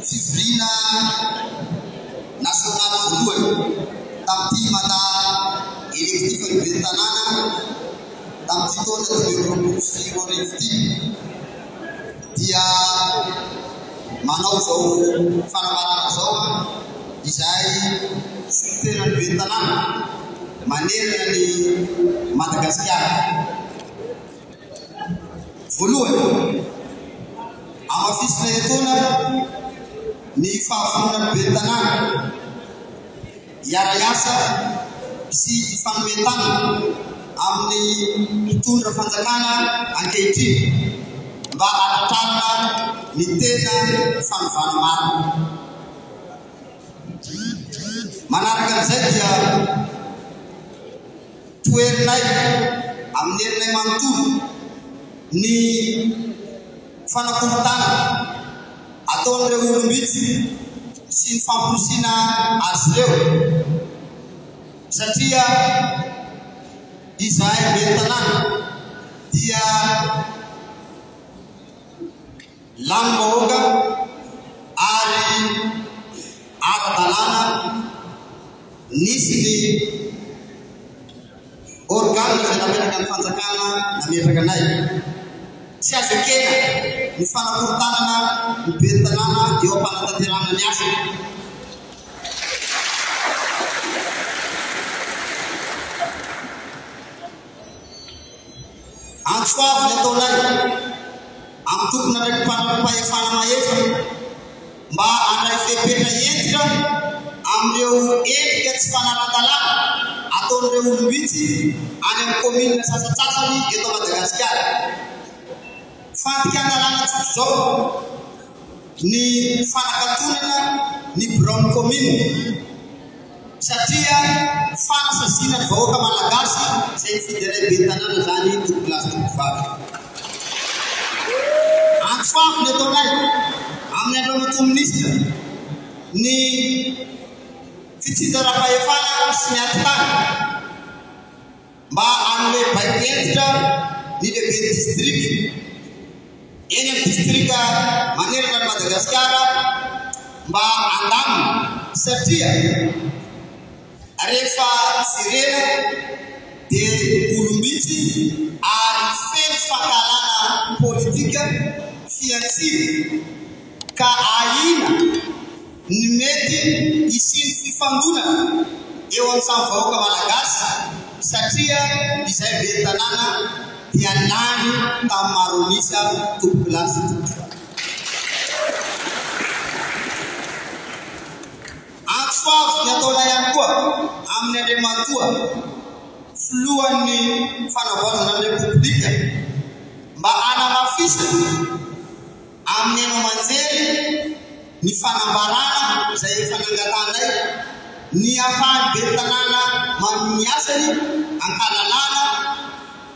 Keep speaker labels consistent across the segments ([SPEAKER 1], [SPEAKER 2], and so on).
[SPEAKER 1] Fivoriana nasionaly voalohany tamin'ny mpilimata elektifan'ny ben'ny tanàna tamin'ity taona dimy amby roapolo sy roa arivo ity dia manao izao fanambarana izao izay solontenan'ny ben'ny tanàna manerana an'i Madagasikara. Voalohany, hamafisina etoana ny fahavononan'ny ben'ny Tanàna hiara-hiasa sy hifanome tanana amin'ny mpitondra fanjakana ankehitriny mba hanatrarana ny tena fanovana marina. Manaraka an'izay dia. Toherinay amin'ny herinay manontolo ny fanakorontana ataon'ireo olom-bitsy sy ny famporisiana azy ireo satria izahay ben'ny tanàna dia Lanim-bahoaka ary ara-dalàna nisy ny organes izay napetrakan'ny fanjakana nametraka anay. Tsy azo ekena ny fanakorontanana ny ben'ny tanàna eo am-panatanterahana ny asany. Antso avo ny ataonay amin'ny tompon'andraikim-pahefana mahefa mba handray fepetra hentitra amin'ireo endrika tsy fanaran-dalàna ataon'ireo olom-bitsy any amin'ny kaominina sasantsasany eto Madagasikara. Fandikan-dalàna tsotra izao. ny fanakatonana ny biraon'ny kaominina satria fanasasiana ny vahoaka malagasy izay nifidy anay ben'ny tanàna izany tompolahy sy tompovavy. Antsovy ny ataonay amin'ny andro an'Atoa Minisitra ny fitsinjaram-pahefana sy ny ati-tany. mba hanome baiko hentitra ny lehiben'ny distrika eny amin'ny distrika manerana an'i Madagasikara mba handamina satria rehefa jerena dia olom-bitsy ary feno fankahalana politika fihantsiana ka ahiana ny mety hisian'ny fifandonana eo amin'ny samy vahoaka Malagasy satria izay ben'ny tanàna dia lany tamin'ny Maronisa tompokolaza tompoko antsofavy ny ataonay ihany koa amin'ny Andriamatoa Filohan'ny Fanavaozana ny Repoblika mba hanamafisana Amin'ny haino aman-jery, ny fanambarana izay efa nangatahanay, ny ahafahan'ny ben'ny tanàna manohy ny asany an-kalalahana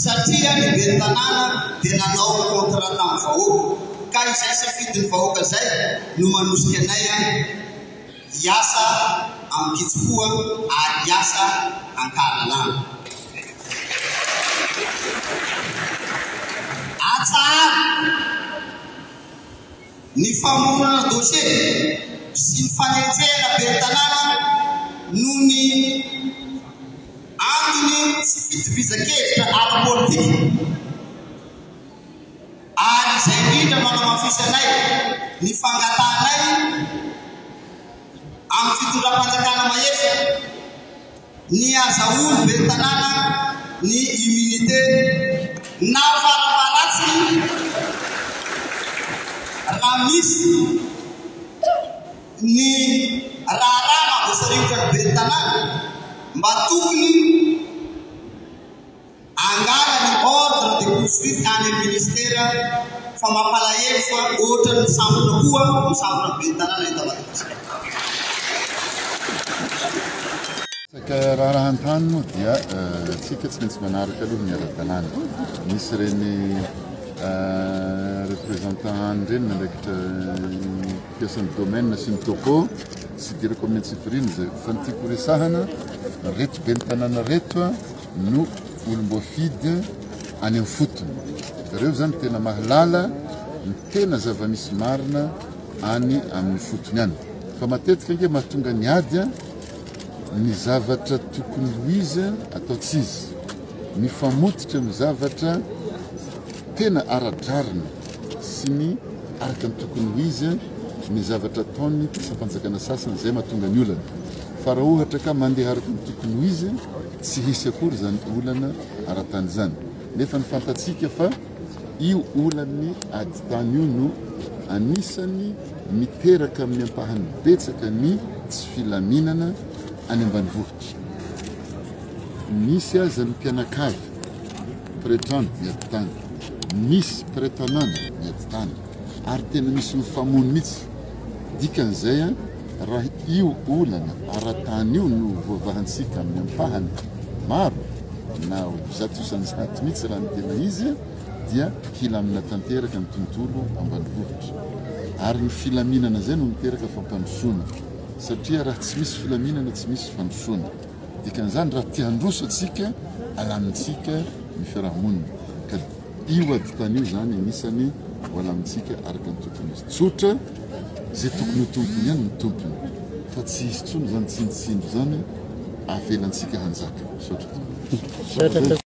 [SPEAKER 1] satria ny ben'ny tanàna dia nanao contrat tamin'ny vahoaka ka izay safidin'ny vahoaka izay no manosika anay an! Hiasa amin-kitsimpoa ary hiasa an-kahalalahana. Atsaharo ny famoronana dosie sy ny fanenjehana ben'ny tanàna noho ny antony tsy fitovizankevitra ara-politika. ary izay indrindra no anamafisanay ny fangatahanay amin'ny fitondram-panjakana mahefa ny hazahoan'ny ben'ny tanàna ny immunité nafarafaharatsiny raha misy ny raharaha maha voasarivotra ny ben'ny tanàna mba tokony Angaha ny ordre de poursuite any amin'ny ministera fa mampalahelo fa ohatran'ny misampona koa misampona
[SPEAKER 2] ben'ny tanàna eto Madagasikara. Resaka raharahan-tany moa dia isika tsy maintsy manaraka aloha ny ara-dalàna. Misy ireny représentants any ireny nandraikitra mpiasan'ny domaine sy ny topo tsy idirako amin'ny antsipiriany izay fa ny tiako resahana reto ben'ny tanàna reto no olom-boafidy any amin'ny fotony. Zareo izany tena mahalala ny tena zava-misy marina any amin'ny fotony any. Fa matetika ange mahatonga ny ady ny zavatra tokony ho izy atao tsy izy. Mifamototra amin'ny zavatra tena ara-drariny sy ny araka ny tokony ho izy ny zavatra ataon'ny mpiasam-panjakana sasany izay mahatonga ny olana. Fa raha ohatra ka mandeha araka ny tokony ho izy Tsy hisy akory izany olana ara-tany izany, nefa ny fantatsika fa io olan'ny adi-tany io no anisan'ny miteraka amin'ny ampahany betsaka ny tsy filaminana any ambanivohitra. Nisy aza ny mpianakavy, mpiretrano miady tany, nisy mpiretanàna miady tany. Ary tena misy mifamono mihitsy. Dikan'izay, raha io olana ara-tany io no voavahantsika amin'ny ampahany maro, na ho zato isan-jato mihitsy raha ny tena izy, dia hilamina tanteraka ny tontolo ambanivohitra. Ary ny filaminana izay no miteraka fampandrosoana. Satria raha tsy misy filaminana, tsy misy fandrosoana. Dikan'izany, raha te-handroso antsika, alamintsika ny fiarahamonina. Io ady tany io izany anisany mbola amintsika araka ny tontolo misy. Tsotra, izay tokony ho tompony ihany ny tompony. Fa tsy hisy intsony izany tsindotsindy izany, avelantsika hanjaka. Misaotra.